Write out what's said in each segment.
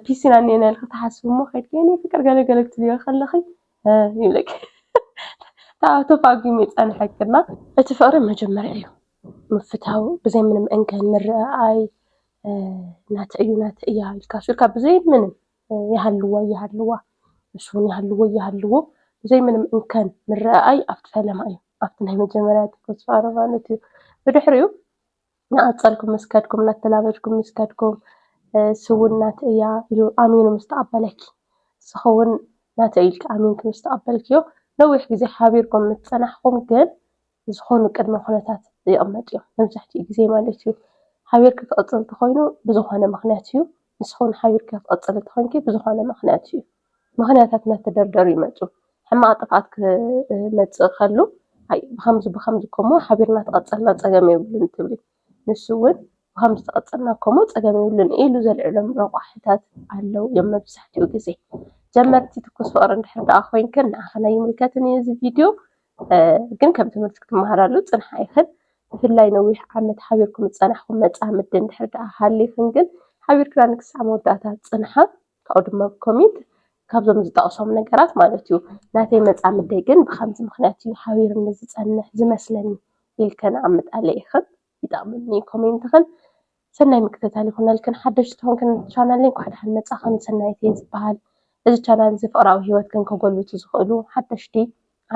ፒሲና እኔና ኢልኪ ትሓስቢ እሞ ከይድኪ የኔ ፍቅር ገለ ገለ ክትብልዮ ከለኺ ይብለኪ ታው ተፋጊሙ ይጸንሐክና እቲ ፍቅሪ መጀመርያ እዩ ምፍታው ብዘይ ምንም እንከን ምርኣይ ናተይ እዩ ናተይ እያ ኢልካ ሱርካ ብዘይ ምንም ይሃልዋ ይሃልዋ ንሱን ይሃልዎ ይሃልዎ ብዘይ ምንም እንከን ምርኣይ ኣብቲ ፈለማ እዩ ኣብቲ ናይ መጀመርያ ተስፋ ማለት እዩ ብድሕሪኡ ንኣጸልኩም ምስ ከድኩም እናተላበድኩም ምስ ከድኩም ስውን ናተ እያ ኢሉ ኣሚኑ ምስ ተቐበለኪ ንስኺ እውን ናተ ኢልኪ ኣሚንኪ ምስ ተቐበልክዮ ነዊሕ ግዜ ሓቢርኩም ምስ ጸናሕኩም ግን ዝኾኑ ቅድመ ኩነታት ይቕመጡ እዮም መብዛሕትኡ ግዜ ማለት እዩ ሓቢርኪ ክቕጽል እንተኾይኑ ብዝኾነ ምኽንያት እዩ ንስኺ እውን ሓቢርኪ ክትቕጽሊ እንተኾይንኪ ብዝኾነ ምኽንያት እዩ ምኽንያታት እናተደርደሩ ይመፁ። ሕማቕ ጥፍኣት ክመፅእ ከሎ ብኸምዚ ብኸምዚ እኮ እሞ ሓቢርና እንተቐፀልና ፀገም የብሉን ትብሊ። ንሱ እውን ብኸምዚ እንተቐፀልና እኮ እሞ ፀገም የብሉን ኢሉ ዘልዕሎም ረቋሒታት ኣለው እዮም መብዛሕትኡ ግዜ። ጀመርቲ ትኩስ ፍቕሪ እንድሕር ደኣ ኮይንክን ንዓኽን ኣይምልከትን እዩ እዚ ቪድዮ ግን ከም ትምህርቲ ክትመሃራሉ ፅንሓ ኢኽን። ብፍላይ ነዊሕ ዓመት ሓቢርኩም ዝፀናሕኹም መፃምዲ እንድሕር ደኣ ሃሊኽን ግን ሓቢርክናኒ ክሳዕ መወዳእታ ፅንሓ። ካብኡ ድማ ኮሜት ካብዞም ዝጠቕሶም ነገራት ማለት እዩ ናተይ መፃምደይ ግን ብኸምዚ ምኽንያት እዩ ሓቢሩኒ ዝፀንሕ ዝመስለኒ ኢልክን ኣብ ምጣለ ኢኽን ይጠቕመኒ ኮሜንትኽን ሰናይ ምክትታል ይኹነልክን ሓደሽቲ ተኾንክን ቻናለይ እንኳዕ ደሓን መፃኽን ሰናይት እየ ዝበሃል እዚ ቻናል እዚ ፍቕራዊ ሂወትክን ከጎልብቱ ዝኽእሉ ሓደሽቲ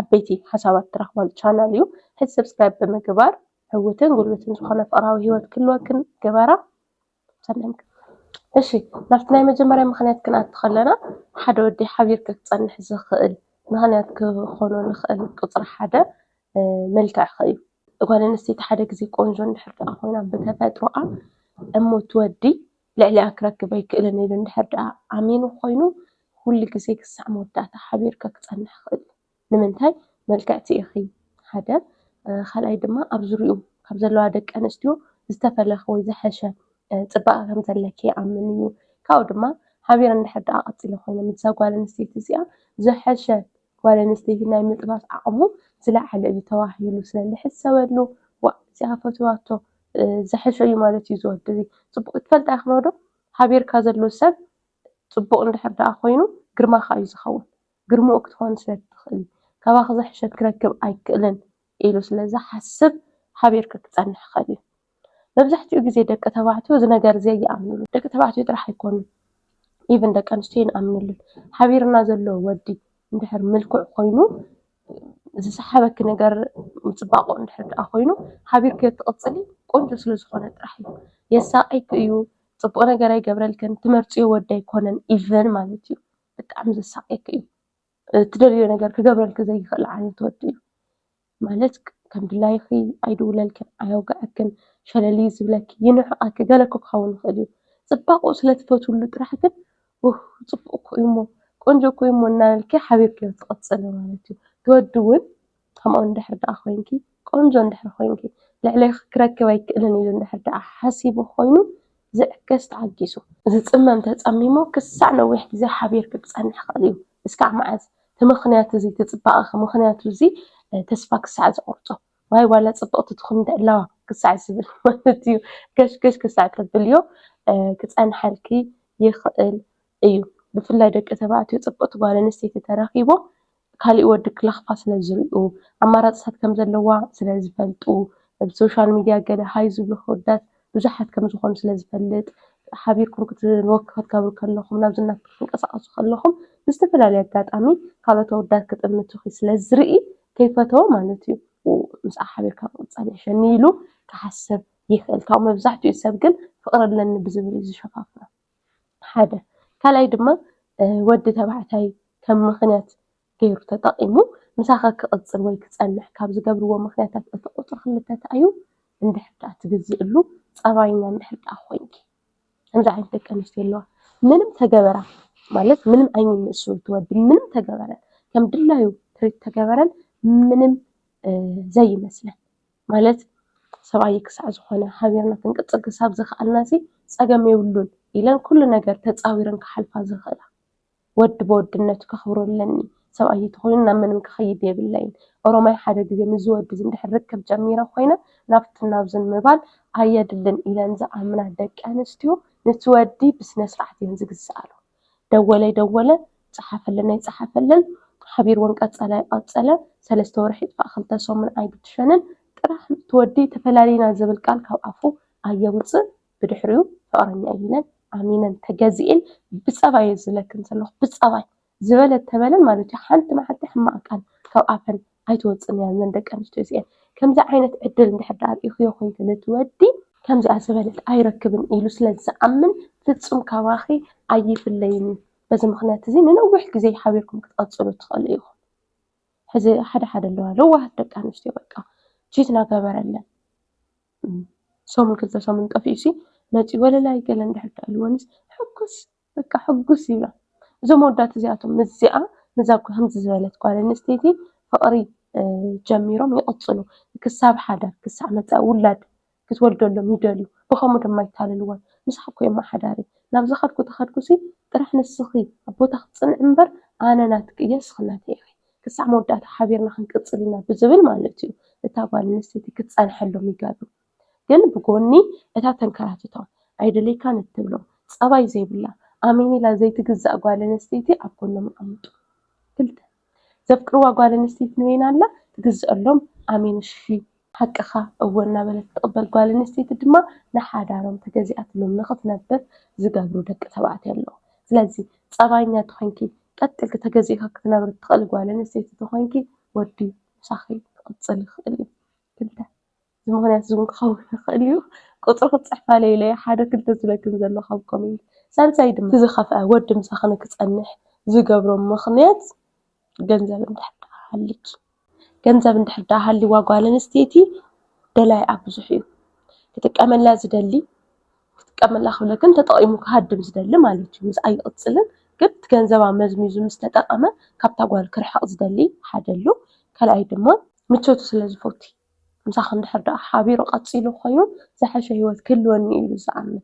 ዓበይቲ ሓሳባት ትረኽባሉ ቻናል እዩ ሕዚ ሰብስክራይብ ብምግባር ዕውትን ጉልብትን ዝኾነ ፍቕራዊ ሂወት ክህልወክን ግበራ እሺ ናብቲ ናይ መጀመርያ ምኽንያት ክንኣቱ ከለና ሓደ ወዲ ሓቢርካ ክፀንሕ ዝኽእል ምኽንያት ክኾኖ ዝኽእል ቁፅሪ ሓደ መልክዕኺ እዩ። ጓል ኣንስተይቲ ሓደ ግዜ ቆንጆ እንድሕር ደኣ ኾይና ብተፈጥሮኣ እሞ እቲ ወዲ ልዕሊኣ ክረክብ ኣይክእልን ኢሉ እንድሕር ደኣ ኣሚኑ ኾይኑ ኩሉ ግዜ ክሳዕ መወዳእታ ሓቢርካ ክፀንሕ ይኽእል እዩ። ንምንታይ ምልክዕቲ ኢኺ ሓደ ካልኣይ ድማ ኣብ ዙርይኡ ካብ ዘለዋ ደቂ ኣንስትዮ ዝተፈለኪ ወይ ዝሐሸ ፅባቀ ከም ዘለኪ ይኣምን እዩ ካብኡ ድማ ሓቢረን እንድሕር ድኣ ቀፂለ ኮይነን ምስዛ ጓል ኣንስተይቲ እዚኣ ዝሐሸ ጓል ኣንስተይቲ ናይ ምጥባስ ዓቅሙ ዝለዓለ እዩ ተባሂሉ ስለ ዝሕሰበሉ ዋእ እዚኣ ፈትዋቶ ዝሐሸ እዩ ማለት እዩ እዚ ወዲ እዚ ፅቡቅ እዩ ትፈልጣ ኢኺ ዶ ሓቢርካ ዘሎ ሰብ ፅቡቅ እንድሕር ድኣ ኮይኑ ግርማካ እዩ ዝኸውን ግርምኡ ክትኾን ስለ እትኽእል፣ ካባኺ ዝሕሸት ክረክብ ኣይክእልን ኢሉ ስለ ዝሓስብ ሓቢርኪ ክጸንሕ ይኽእል እዩ። መብዛሕትኡ ግዜ ደቂ ተባዕትዮ እዚ ነገር እዚ ኣይኣምንሉን። ደቂ ተባዕትዮ ጥራሕ ኣይኮኑን ኢቭን ደቂ ኣንስትዮ ኣይንኣምነሉን። ሓቢርና ዘሎ ወዲ እንድሕር ምልኩዕ ኮይኑ ዝሰሓበኪ ነገር ምጽባቑ እንድሕር ደኣ ኮይኑ ሓቢርክዮ እትቕጽሊ ቆንጆ ስለ ዝኾነ ጥራሕ እዩ። የሳቕየኪ እዩ፣ ጽቡቕ ነገር ኣይገብረልክን፣ ትመርጽዮ ወዲ ኣይኮነን ኢቭን ማለት እዩ። ብጣዕሚ ዘሳቅየኪ እዩ ትደልዮ ነገር ክገብረልኪ ዘይክእል ዓይነት ወዲ እዩ ማለት ከም ድላይኺ ኣይድውለልክን ኣየውግዐክን ሸለል እዩ ዝብለኪ ይንዕቀኪ ገለ እኮ ክኸውን ይኽእል እዩ ፅባቅኡ ስለ ትፈትውሉ ጥራሕ ግን ኡህ ፅቡቅ እኮ እዩ እሞ ቆንጆ እኮ እዩ እሞ እናበልኪ ሓቢርክዮ ትቅፅሊ ማለት እዩ እቲ ወዲ እውን ከምኡ እንድሕር ደኣ ኮይንኪ ቆንጆ እንድሕር ኮይንኪ ልዕሌኺ ክረክብ ኣይክእልን ኢሉ እንድሕር ደኣ ሓሲቡ ኮይኑ ዝዕገስ ተዓጊሱ ዝጽመም ተጸሚሙ ክሳዕ ነዊሕ ግዜ ሓቢርኪ ክጸንሕ ይኽእል እዩ። እስካዕ መዓዝ? እቲ ምኽንያት እዚ እቲ ጽባቐኺ ምኽንያቱ እዚ ተስፋ ክሳዕ ዝቖርጾ ዋይ ዋላ ጽብቕቲ ትኹን ደላዋ ክሳዕ ዝብል ማለት እዩ ገሽ ገሽ ክሳዕ ተብልዮ ክጸንሓልኪ ይኽእል እዩ። ብፍላይ ደቂ ተባዕትዮ ጽብቕቲ ጓል ኣንስተይቲ ተረኺቦም ካሊእ ወዲ ክለኽፋ ስለ ዝሪኡ ኣማራፅታት ከም ዘለዋ ስለ ዝፈልጡ ኣብ ሶሻል ሚድያ ገለ ሃይ ዝብሉ ኣወዳት ብዙሓት ከም ዝኾኑ ስለ ዝፈልጥ ሓቢርኩም ክትወክ ክትገብሩ ከለኹም ናብ ዝና ክትንቀሳቐሱ ከለኹም ብዝተፈላለየ ኣጋጣሚ ካልኦት ኣወዳት ክጥምቱኺ ስለ ዝርኢ ከይፈተወ ማለት እዩ ምስኣ ሓቢርካ ምቕፃል ይሕሸኒ ኢሉ ክሓስብ ይኽእል። ካብ መብዛሕትኡ ሰብ ግን ፍቕሪ ኣለኒ ብዝብል እዩ ዝሸፋፍኖ። ሓደ ካልኣይ ድማ ወዲ ተባዕታይ ከም ምኽንያት ገይሩ ተጠቒሙ ምሳኻ ክቕፅል ወይ ክፀንሕ ካብ ዝገብርዎ ምኽንያታት እቲ ቁፅሪ ክልተ እንታይ እዩ? እንድሕር ደኣ ትግዝእሉ ፀባየኛ እንድሕር ደኣ ኮይንኪ ከምዚ ዓይነት ደቂ ኣንስትዮ ኣለዋ ምንም ተገበራ ማለት ምንም ዓይነት ንእሱ እቲ ወዲ ምንም ተገበረ ከም ድላዩ ትሪት ተገበረን ምንም ዘይመስለን። ማለት ሰብኣየይ ክሳዕ ዝኾነ ሓቢርና ክንቅጽል ክሳብ ዝኸኣልና'ሲ ጸገም የብሉን ኢለን ኩሉ ነገር ተጻዊረን ክሓልፋ ዝኽእላ። ወዲ ብወድነቱ ከኽብሮ ኣለኒ፣ ሰብኣየይ ተኾይኑ ናብ ምንም ክኸይድ የብለይን፣ ኦሮማይ ሓደ ግዜ ምስዚ ወዲ'ዚ እንድሕር ርክብ ጀሚረ ኮይነ ናብትን ናብዝን ምባል ኣየድልን ኢለን ዝኣምና ደቂኣንስትዮ ንቲ ወዲ ብስነስርዓት እየን ዝግዝኣሉ። ደወለ ደወለ፣ ጸሓፈለነይ ጸሓፈለን፣ ሓቢርወን ቀጸለ ቀጸለ፣ ሰለስተ ወርሒ ይጥፋእ ክልተ ሰሙን ኣይብትሸንን፣ ጥራሕ እቲ ወዲ ተፈላሊና ዝብል ቃል ካብ ኣፉ ኣየውጽእ፣ ብድሕሪኡ ፍቕረኛይ ኢለን ኣሚነን ተገዚኤን ብጸባይ'የ ዝብለክን ዘለኹ ብጸባይ፣ ዝበለ ተበለ ማለት'ዩ ሓንቲ መዓልቲ ሕማቕ ቃል ካብ ኣፈን ኣይትወፅእን እያ እዘን ደቂ ኣንስትዮ እዚኤን። ከምዚ ዓይነት ዕድል እንድሕር ደኣ ርኢኹዮ ኮይንክን እቲ ወዲ ከምዚኣ ዝበለት ኣይረክብን ኢሉ ስለ ዝኣምን ፍፁም ካባኺ ኣይፍለይን እዩ። በዚ ምኽንያት እዚ ንነዊሕ ግዜ ሓቢርኩም ክትቕፅሉ ትኽእሉ ኢኹም። ሕዚ ሓደ ሓደ ኣለዋ ለዋሃት ደቂ ኣንስትዮ በቃ ቺት እናገበረለን ሰሙን ክልተ ሰሙን ጠፊኡሲ መፂኡ ወለላይ ገለ እንድሕር ደኣ ኢልወንስ ሕጉስ በቃ ሕጉስ ኢያ እዞም ኣወዳት እዚኣቶም ምስዚኣ ምስዛ ከምዚ ዝበለት ጓል ኣንስተይቲ ፍቅሪ ጀሚሮም ይቅጽሉ ክሳብ ሓዳር ክሳዕ መጻኢ ውላድ ክትወልደሎም ይደልዩ ብከምኡ ድማ ይታለልዋ ምሳካ እኮ እማ ሓዳረይ ናብ ዝከድኩ ተከድኩሲ ጥራሕ ንስኪ ኣብ ቦታኪ ጽንዒ እምበር ኣነ ናትኪ እየ ንስኪ ናተይ ኢኪ ክሳዕ መወዳእታ ሓቢርና ክንቅጽል ኢና ብዝብል ማለት እዩ እታ ጓል ኣንስተይቲ ክትጸንሐሎም ይገብሩ። ግን ብጎኒ እታ ተንከራትቶም ኣይደልየካን እትብሎም ፀባይ ዘይብላ ኣሜኒላ ዘይትግዛእ ጓል ኣነስተይቲ ኣብ ጎኖም ኣቐምጡ። ክልተ። ዘፍቅርዋ ጓል ኣነስተይቲ ንበይና ኣላ ትግዘኣሎም ኣሜን እሺ። ሓቅኻ እወ እናበለት እትቕበል ጓል ኣነስተይቲ ድማ ንሓዳሮም ተገዚኣትሎም ንኽትነብር ዝገብሩ ደቂ ተባዕትዮ ኣለዉ። ስለዚ ፀባየኛ ተኾይንኪ ቀጥ ኢልኪ ተገዚእኻ ክትነብሪ እትኽእሊ ጓል ኣነስተይቲ ተኾይንኪ ወዲ ምሳኺ ክቕፅል ይኽእል እዩ። ክልተ። እዚ ምኽንያት እዚ እውን ክኸውን ይኽእል እዩ። ቁጽሪ ክትጽሕፍ ኣለይለይ ሓደ ክልተ ዝደግም ዘሎ ካብ ኮሜንት። ሳልሳይ ድማ እቲ ዝኸፍኣ ወዲ ምሳኺ ንክጸንሕ ዝገብሮ ምኽንያት ገንዘብ እንድሕር ደኣ ሃሊኪ። ገንዘብ እንድሕር ደኣ ሃሊዋ ጓል ኣንስተይቲ ደላይኣ ብዙሕ እዩ። ክጥቀመላ ዝደሊ ክጥቀመላ ክብለክን ተጠቒሙ ክሃድም ዝደሊ ማለት እዩ። ምስኣ ይቕጽልን ግን እቲ ገንዘባ መዝሚዙ ምስ ተጠቐመ ካብታ ጓል ክርሕቕ ዝደሊ ሓደ ኣሎ። ካልኣይ ድማ ምቾቱ ስለ ዝፈቱ እዩ። ምሳኺ እንድሕር ደኣ ሓቢሩ ቀጺሉ ኮይኑ ዝሐሸ ሂወት ክህልወኒ እዩ ኢሉ ዝኣምን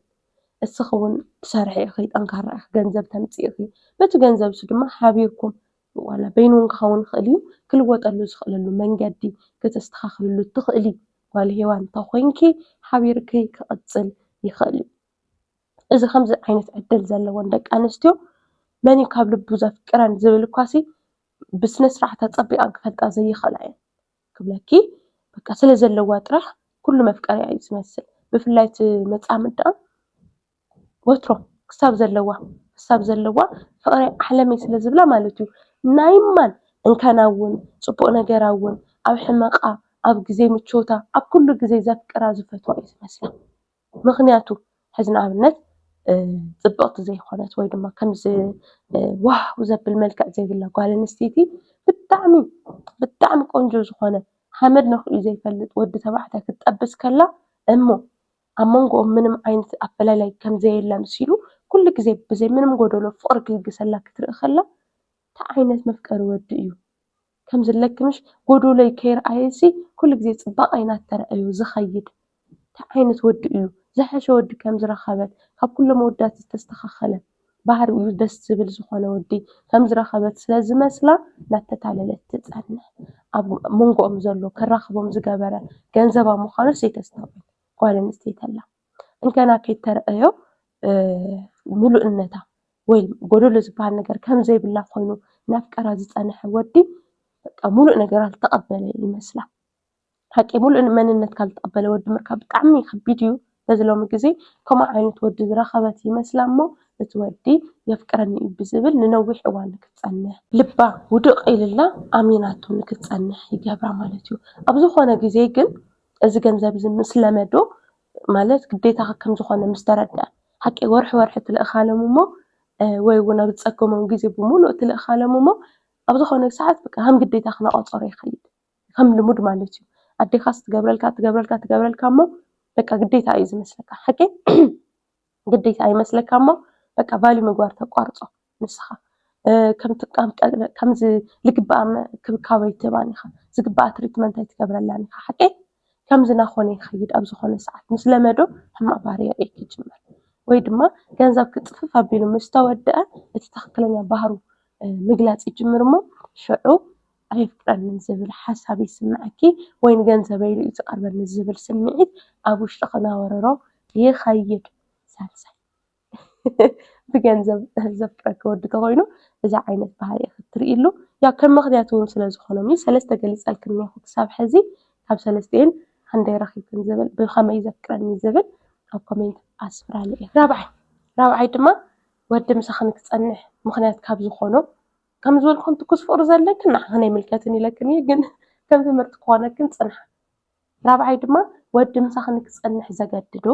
እስኺ ዉን ትሰርሒ ኢኺ ጠንካራ ኢኺ ገንዘብ ተምጽኢ ኢኺ በቲ ገንዘብ ንሱ ድማ ሓቢርኩም ዋላ በይኑ ዉን ክኸዉን ይኽእል እዩ ክልወጠሉ ዝኽእለሉ መንገዲ ክተስተኻኽልሉ እትኽእሊ ጓል ሄዋን እንተ ኾይንኪ ሓቢርኪ ክቕጽል ይኽእል እዩ። እዚ ከምዚ ዓይነት ዕድል ዘለወን ደቂ ኣንስትዮ መን እዩ ካብ ልቡ ዘፍቅረን ዝብል እኳሲ ብስነ ስርዓት ኣጸቢቐን ክፈልጣ ዘይኽእላ እየን። ክብለኪ በቃ ስለ ዘለዋ ጥራሕ ኩሉ መፍቀሪኣ እዩ ዝመስል ብፍላይ እቲ መጻምድ ደኣ ወትሮ ክሳብ ዘለዋ ክሳብ ዘለዋ ፍቕረይ ዓለመይ ስለ ዝብላ ማለት እዩ ናይ ማን እንከና እውን ጽቡቕ ነገራ እውን ኣብ ሕመቓ ኣብ ግዜ ምቾታ ኣብ ኩሉ ግዜ ዘፍቅራ ዝፈትዋ እዩ ዝመስላ። ምኽንያቱ ሕዚ ንኣብነት ፅብቕቲ ዘይኮነት ወይ ድማ ከምዚ ዋው ዘብል መልክዕ ዘይብላ ጓል ኣንስተይቲ ብጣዕሚ ብጣዕሚ ቆንጆ ዝኾነ ሓመድ ነኺኡ ዘይፈልጥ ወዲ ተባዕታይ ክትጠብስ ከላ እሞ ኣብ መንጎኦም ምንም ዓይነት ኣፈላላይ ከም ዘየለ ኣምሲሉ ኩሉ ግዘ ብዘይ ምንም ጎዶሎ ፍቕሪ ክልግሰላ ክትርኢ ከላ እንታይ ዓይነት መፍቀሪ ወዲ እዩ? ከም ዝለክምሽ ጎዶሎይ ከይርኣየሲ ኩሉ ግዜ ፅባቐይ እናተረኣዮ ዝኸይድ እንታይ ዓይነት ወዲ እዩ? ዝሐሸ ወዲ ከም ዝረኸበት ካብ ኩሎም ኣወዳት ዝተስተኻኸለ ባህሪኡ ደስ ዝብል ዝኾነ ወዲ ከም ዝረኸበት ስለ ዝመስላ እናተታለለት ትፀንሕ። ኣብ መንጎኦም ዘሎ ከራኽቦም ዝገበረ ገንዘባ ምዃኑስ ዘይተስተውዕል ጓል ኣንስተይቲ ኣላ። እንደገና ከይተረኣዮ ምሉእነታ ወይ ጎደሎ ዝበሃል ነገር ከምዘይብላ ኮይኑ እናፍቀራ ዝፀንሐ ወዲ በቃ ምሉእ ነገራ ዝተቐበለ ይመስላ። ሓቂ እዩ ምሉእ መንነትካ ዝተቐበለ ወዲ ምርካብ ብጣዕሚ ከቢድ እዩ። በዚ ሎሚ ግዜ ከምኡ ዓይነት ወዲ ዝረኸበት ይመስላ እሞ እቲ ወዲ የፍቅረኒ እዩ ብዝብል ንነዊሕ እዋን ንክትፀንሕ ልባ ውድቕ ኢሉላ ኣሚናቶ ንክትፀንሕ ይገብራ ማለት እዩ። ኣብ ዝኾነ ግዜ ግን እዚ ገንዘብ እዚ ምስ ለመዶ ማለት ግዴታኻ ከም ዝኾነ ምስ ተረድኣ ሓቂ ወርሒ ወርሒ ትልእካሎም እሞ ወይ እውን ኣብ ዝፀገሞም ግዜ ብምሉኡ ትልእካሎም እሞ ኣብ ዝኾነ ሰዓት በቃ ከም ግዴታኻ እናቖፀሮ ይኸይድ ከም ልሙድ ማለት እዩ። ኣዴኻስ ትገብረልካ ትገብረልካ ትገብረልካ እሞ በቃ ግዴታ እዩ ዝመስለካ ሓቀይ? ግዴታ ይመስለካ እሞ በቃ ቫልዩ ምግባር ተቋርፆ ንስኻ ከምቲ ከም ዝግብኣ እንክብካብ ኣይትህባን ኢኻ፣ ዝግብኣ ትሪትመንት ኣይትገብረላን ኢኻ ሓቀይ? ከምዚ ናኾነ ይኸይድ ኣብ ዝኾነ ሰዓት ምስ ለመዶ ሕማቕ ባህሪ የርእየኪ ይጅምር ወይ ድማ ገንዘብ ክፅፍፍ ኣቢሉ ምስ ተወደኣ እቲ ትኽክለኛ ባህሩ ምግላፅ ይጅምር እሞ ሽዑ ኣየፍቅረንን ዝብል ሓሳብ ይስመዐኪ ወይ ንገንዘበይ ኢሉ እዩ ዝቐርበኒ ዝብል ስምዒት ኣብ ውሽጥኺ ክነብርሮ ይኸይድ። ሳልሳይ፣ ብገንዘብ ዘፍቅረኪ ወዲ ተኾይኑ እዚ ዓይነት ባህሪ ኢኺ እትርእይሉ። ያው ከም ምኽንያት እውን ስለ ዝኾኖም እዩ። ሰለስተ ገሊፀልኪ እኒሀኹ ክሳብ ሕዚ። ካብ ሰለስቲኤን ሃንደይ ረኺብክን ዝብል ብኸመይ እዩ ዘፍቅረኒ ዝብል ኣብ ኮሜንት ኣስፍራለይ። ራብዓይ፣ ራብዓይ ድማ ወዲ ምሳኺ ንክፀንሕ ምኽንያት ካብ ዝኾኖ ከም ዝበልኩም ትኩስ ፍቅሪ ዘለክን ንዓኽን ኣይምልከትን ኢለክን እየ ግን ከም ትምህርቲ ክኾነክን ፅንሓ ራብዓይ ድማ ወዲ ምሳኽ ንክፀንሕ ዘገድዶ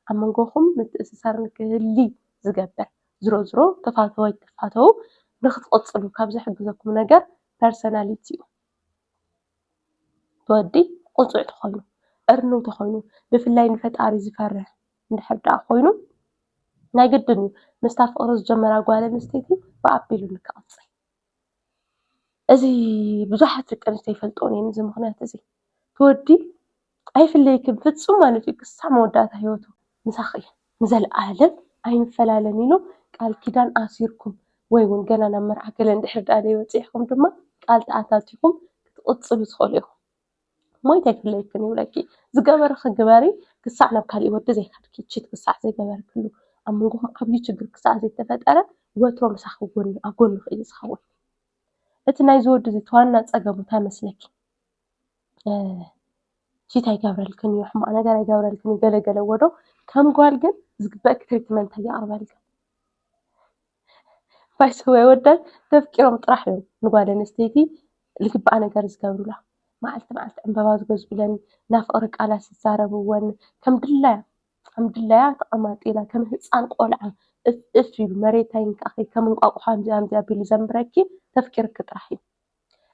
ኣብ መንጎኹም ምትእስሳር ንክህሊ ዝገብር ዝሮ ዝሮ ተፋተው ኣይትፋተው ንክትቕፅሉ ካብ ዝሕግዘኩም ነገር ፐርሰናሊቲ እዩ ወዲ ቁጡዕ ተኾይኑ እርንው ተኾይኑ ብፍላይ ንፈጣሪ ዝፈርህ እንድሕር ደኣ ኮይኑ ናይ ግድን እዩ ምስታ ፍቕሪ ዝጀመራ ጓል ኣንስተይቲ ብኣቢሉ ንክቕጽል። እዚ ብዙሓት ደቂ ኣንስትዮ ይፈልጥኦን እየን እዚ ምኽንያት እዚ። እቲ ወዲ ኣይፍለየክን ፍጹም ማለት እዩ ክሳዕ መወዳእታ ህይወቱ ምሳኺ እየ ንዘለኣለም ኣይንፈላለን ኢሉ ቃል ኪዳን ኣሲርኩም ወይ እውን ገና ናብ መርዓ ገለ እንድሕር ደኣ ዘይበጺሕኩም ድማ ቃል ተኣታቲኹም ክትቕጽሉ ትኽእሉ ኢኹም። ሞይት ኣይፍለየክን ይብለኪ ዝገበርኺ ግበሪ ክሳዕ ናብ ካሊእ ወዲ ዘይከድኪ ቺት ክሳዕ ዘይገበርክሉ ኣብ መንጎኹም ዓብዪ ችግር ክሳዕ ዘይተፈጠረ ወትሩ ምሳኺ ኣብ ጎንኺ እዩ ዝኸውን። እቲ ናይዚ ወዲ እዚ ዋና ፀገሙ እንታይ ይመስለኪ? ቺት ኣይገብረልክን እዩ፣ ሕማቕ ነገር ኣይገብረልክን እዩ ገለ ገለ እዎ ዶ ከም ጓል ግን ዝግበኣኪ ትሪትመንት ኣይቕርበልክን። ባይዘወይ ኣወዳት ተፍቂሮም ጥራሕ እዮም ንጓል ኣንስተይቲ ልግበኣ ነገር ዝገብሩላ መዓልቲ መዓልቲ ዕምበባ ዝገዝኡለን ናይ ፍቅሪ ቃላት ዝዛረብወን ከም ድላያ ከም ድላያ ተቀማጢላ ከም ህፃን ቆልዓ እፍ እፍ ኢሉ መሬታ ይንካኣኪ ከም እንቋቁሖ ኣምፅዩ ኣምፅዩ ኣቢሉ ዘንብረኪ ተፍቂርኪ ጥራሕ እዩ።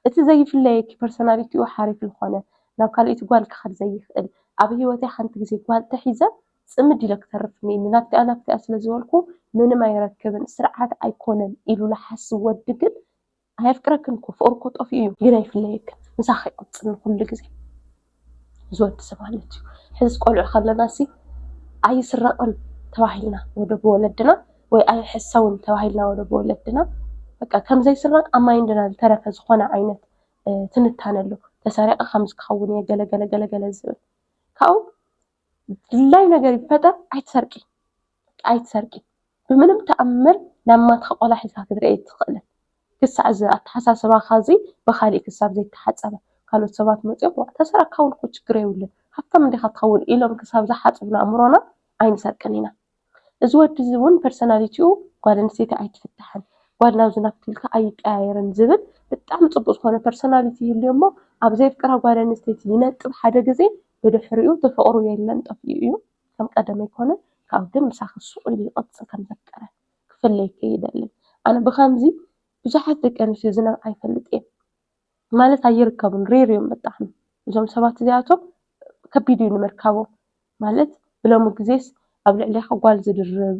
እቲ ዘይፍለየኪ ፐርሰናሊቲኡ ሓሪፍ ልኾነ ናብ ካልኣይቲ ጓል ክኸድ ዘይኽእል ኣብ ህይወተይ ሓንቲ ጊዜ ጓል ተሒዘ ጽምድ ኢለ ክተርፍ እኒኤኒ ናብቲኣ ናብቲኣ ስለ ዝበልኩ ምንም ኣይረክብን ስርዓት ኣይኮነን ኢሉ ልሓስብ ወዲ ግን ኣየፍቅረክን እኮ ፍቕሩ እኮ ጠፊኡ እዩ ግን ኣይፍለየክን ምሳኺ ይቕጽል ንኹሉ ጊዜ። ዝወድሰ ማለት እዩ። ሕዚ ቆልዑ ከለና ሲ ኣይስረቅን ተባሂልና ወደ ብወለድና ወይ ኣይሕሰውን ተባሂልና ወደ ብወለድና በቃ ከም ዘይስረቅ ኣብ ማይንድና ዝተረፈ ዝኾነ ዓይነት ትንታነ ኣሎ። ተሰሪቀ ከምዚ ክኸውን እየ ገለ ገለ ገለ ገለ ዝብል ካብኡ ድላይ ነገር ይፈጠር ኣይትሰርቂ ኣይትሰርቂ ብምንም ተኣምር ናብ ማትካ ቆልዓ ሒዝካ ክትርኢ ኣይትኽእልን ክሳዕ እዚ ኣተሓሳስባኻ እዚ ብኻሊእ ክሳብ ዘይተሓፀበ ካልኦት ሰባት መፂኦም ዋእ ተሰረቕካ እውን እኮ ችግር የብሉን ሃፍታም እንዲኻ ትኸውን ኢሎም ክሳብ ዝሓፅቡና ኣእምሮና ኣይንሰርቅን ኢና። እዚ ወዲ እዚ እውን ፐርሰናሊቲኡ ጓል ኣንስተይቲ ኣይትፍታሕን፣ ጓል ናብዚ ናብቲ ኢልካ ኣይቀያየርን ዝብል ብጣዕሚ ፅቡቕ ዝኾነ ፐርሰናሊቲ ይህልዮ እሞ ኣብ ዘየፍቅራ ጓል ኣንስተይቲ ይነጥብ ሓደ ግዘ ብድሕሪኡ እቲ ፍቕሩ የለን ጠፊኡ እዩ ከም ቀደም ኣይኮነን ካብኡ ግን ምሳኺ ሱቕ ኢሉ ይቕፅል ከም ዘፍቀረ ክፍለየኪ ኣይደልን ኣነ ብኸምዚ ብዙሓት ደቂ ኣንስትዮ ዝነብዓ ይፈልጥ እየ። ማለት ኣይርከቡን ሬር እዮም ብጣዕሚ እዞም ሰባት እዚኣቶም ከቢድ እዩ ንምርካቦም ማለት ብሎሚ ግዜስ ኣብ ልዕሌኻ ጓል ዝድርብ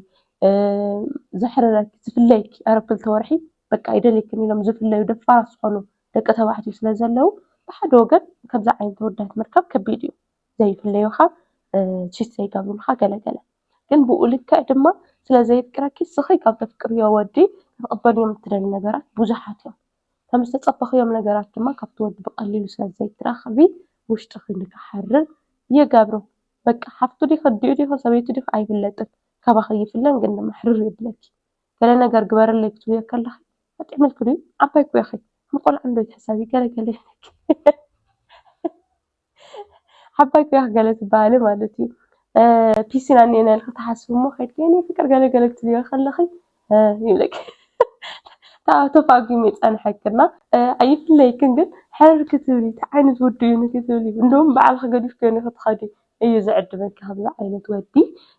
ዘሕርረኪ ዝፍለየኪ ቀረ ክልተ ወርሒ በቃ ኣይደልየክን ኢሎም ዝፍለዩ ደፋራት ዝኾኑ ደቂ ተባዕትዮ ስለ ዘለዉ ብሓደ ወገን ከምዚ ዓይነት ተወዳት ምርካብ ከቢድ እዩ ዘይፍለዩኻ ቺት ዘይገብሩልኻ ገለ ገለ ግን ብኡ ልክዕ ድማ ስለ ዘየፍቅረኪ ስኺ ካብ ተፍቅርዮ ወዲ ክትቕበልዮም እትደሊ ነገራት ብዙሓት እዮም ከም ዝተጸበኽዮም ነገራት ድማ ካብቲ ወዲ ብቀሊሉ ስለ ዘይትረኽቢ ውሽጥኺ ንክሓርር ይገብሮ በቃ ሓፍቱ ዲኺ ኣዲኡ ዲኺ ሰበይቱ ዲኺ ኣይፍለጥን ካባኺ ይፍለን ግን ድማ ሕርር የብለኪ ገለ ነገር ግበርለይ ክትብልዮ ከለኺ ኣጥዕምልኪ ድዩ ዓባይ እኮ ኢኺ ከም ቆልዓ እንዶ ኣይትሕሰቢ ገለ ገለ ኢልኪ ዓባይ ቅያሕ ገለ ትበሃሊ ማለት እዩ። ፒሲና እኒኤና ኢልኪ ትሓስቢ እሞ ከይድኪ የኔ ፍቅር ገለ ገለ ክትብልዮ ከለኺ ይብለኪ ካብኡ ተፋጒሙ ይጸንሐኪ እና ኣይፍለየክን ግን ሕርር ክትብሊ እቲ ዓይነት ወዲ እዩ ንክትብሊ እንደውም በዓልኺ ገዲፍክዮ ንክትኸዲ እዩ ዝዕድመኪ ከምዚ ዓይነት ወዲ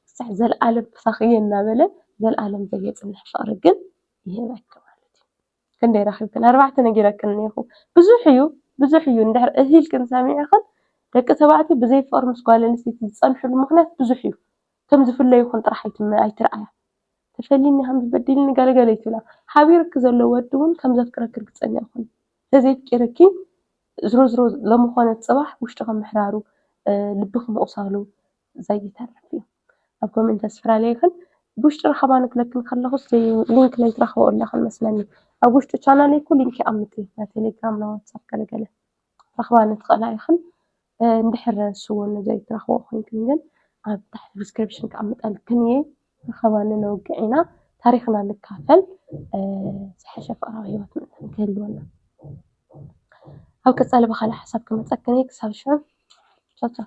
ክሳዕ ዘለኣለም ምሳኺ እየ እናበለ ዘለኣለም ዘየጽንሕ ፍቅሪ ግን ይህበኪ ማለት እዩ። ክንደይ ረኺብክን ኣርባዕተ ነጊረክን እኔኹ ብዙሕ እዩ ብዙሕ እዩ እንድሕር እህ ኢልክን ሰሚዕኽን ደቂ ተባዕትዮ ብዘይ ፍቕሪ ምስ ጓል ኣንስተይቲ ዝጸንሕሉ ምኽንያት ብዙሕ እዩ ከም ዝፍለዩኽን ጥራሕ ኣይትርኣያ ተፈልይኒ ሃምስ በዲልኒ ገለ ገለ ኣይትብላ ሓቢሩኪ ዘሎ ወዲ ውን ከም ዘፍቅረኪ ርግጸኛ ኩኒ ተዘየፍቂርኪ ዝሮ ዝሮ ሎሚ ኮነ ጽባሕ ውሽጥኺ ምሕራሩ ልብኺ ምቑሳሉ ዘይተርፍ እዩ ኣብ ከምኡ እንተዝፈላለየክን ብውሽጢ ራኸባና ክለክን ከለኹስ ሊንክ ለይትረኽበኦ ኣለኽን መስለኒ ኣብ ውሽጢ ቻናለይ እኮ ሊንክ ይኣምጥ እዩ ናይ ቴሌግራም ናይ ዋትሳፕ ገለገለ ረኽባ ንትኽእላ ኢኽን እንድሕር ስውን ዘይትረኽበኦ ኮይንክን ግን ኣብ ታሕቲ ዲስክሪፕሽን ክኣምጠልክን እየ ረኸባ ንነውግዕ ኢና ታሪኽና ንካፈል ዝሐሸ ፍቕራዊ ህይወት ምእንታን ክህልወና ኣብ ቀፃሊ ብካልእ ሓሳብ ክመፀክን እየ ክሳብ ሽዑ ቻው ቻው